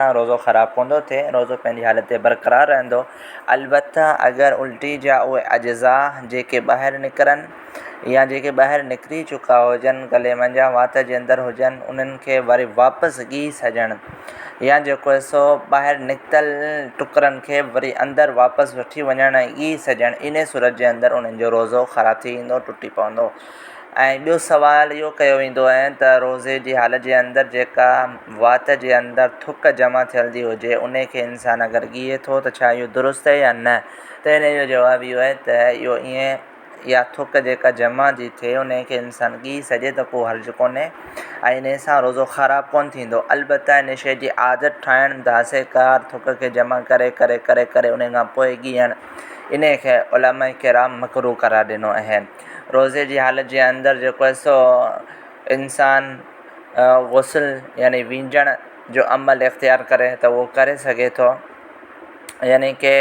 سان روزو خراب ڪوندو ٿئي روزو پنهنجي حالت تي برقرار رهندو البته اگر الٽي جا اهي اجزا جيڪي ٻاهر نڪرن يا جيڪي ٻاهر نڪري چڪا هجن گلي منجهان وات جي اندر هجن انهن کي وري واپس ڳي سڄڻ يا جيڪو حصو ٻاهر نڪتل ٽڪرن کي وري اندر واپس وٺي وڃڻ ۽ ڳي سڄڻ انهي صورت جي اندر انهن جو روزو خراب ٿي ويندو ٽٽي پوندو ۽ ٻيو سوال اهو ڪيو ويندو آهي ته روزي جي حالت جي اندر جيڪا وات جي اندر ٿڪ جمع ٿيل ٿي هجي ان کي انسان اگر ڳيئي ٿو ته ڇا اهو درست آهي يا نه ته ان جو جواب اهو آهي ته اهو ائين اها ٿڪ جيڪا جمع ٿي ٿئي ان کي انسان ڳيئي سگهي ته ڪو حرج ڪونهي ۽ ان سان روزو خراب ڪونه ٿيندو البته ان شيء جي عادت ٺاهڻ داسي ڪار ٿڪ کي جمع ڪري ڪري ڪري ڪري ان کان پوء ڳيئڻ ان کي علماء ڪرام مڪروه قرار ڏنو آهي روزي جي حالت جي اندر جيڪو هي سو انسان غسل يعني وينجڻ جو عمل اختيار ڪري ته هو ڪري سگهي ٿو يعني ڪي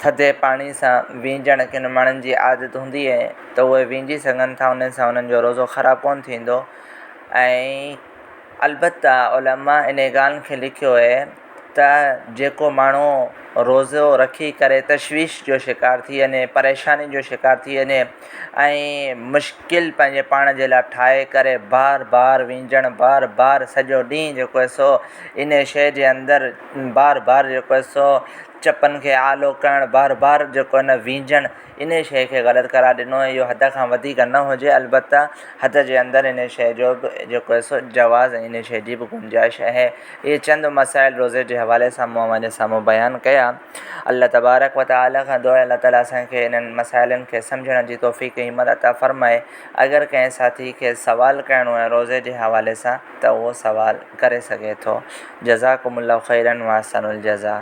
ٿڌي پاڻي سان وينجڻ ڪن ماڻهن جي عادت هوندي هي ته هو وينجي سگهن ٿا انهن سان انهن جو روزو خراب ڪون ٿيندو ۽ البته علماء انهي ڳالهه کي لکيو هي ته جيڪو ماڻهو روزو رکي ڪري تشويش جو شڪار ٿي وڃي پريشاني جو شڪار ٿي وڃي ۽ مشڪل پنهنجي پاڻ جي لاء ٺاهي ڪري بار بار وينجڻ بار بار سڄو ڏينهن جيڪو هي سو ان ئي شيء جي اندر بار بار جيڪو هي سو چپن کي آلو ڪرڻ بار بار جيڪو هي نه وينجڻ انهيء شيء کي غلط قرار ڏنو ۽ اهو حد کان وڌيڪ نه هجي، البته حد جي اندر انهيء شيء جو به جيڪو هي سو جواز ۽ انهيء شيء جي به گنجائش اهي اهي چند مسائل روزي جي حوالي سان مون اوهان جي سامهون بيان ڪيا. الله تبارڪ و تعاليٰ کان دعا آهي الله تعاليٰ اسان کي انهن مسائلن کي سمجهڻ جي توفيق ۽ همت عطا فرمائي. اگر ڪنهن ساٿي کي سوال ڪرڻو آهي روزي جي حوالي سان ته اهو سوال ڪري سگهي ٿو. جزاڪم الله خيرا واحسن الجزاء.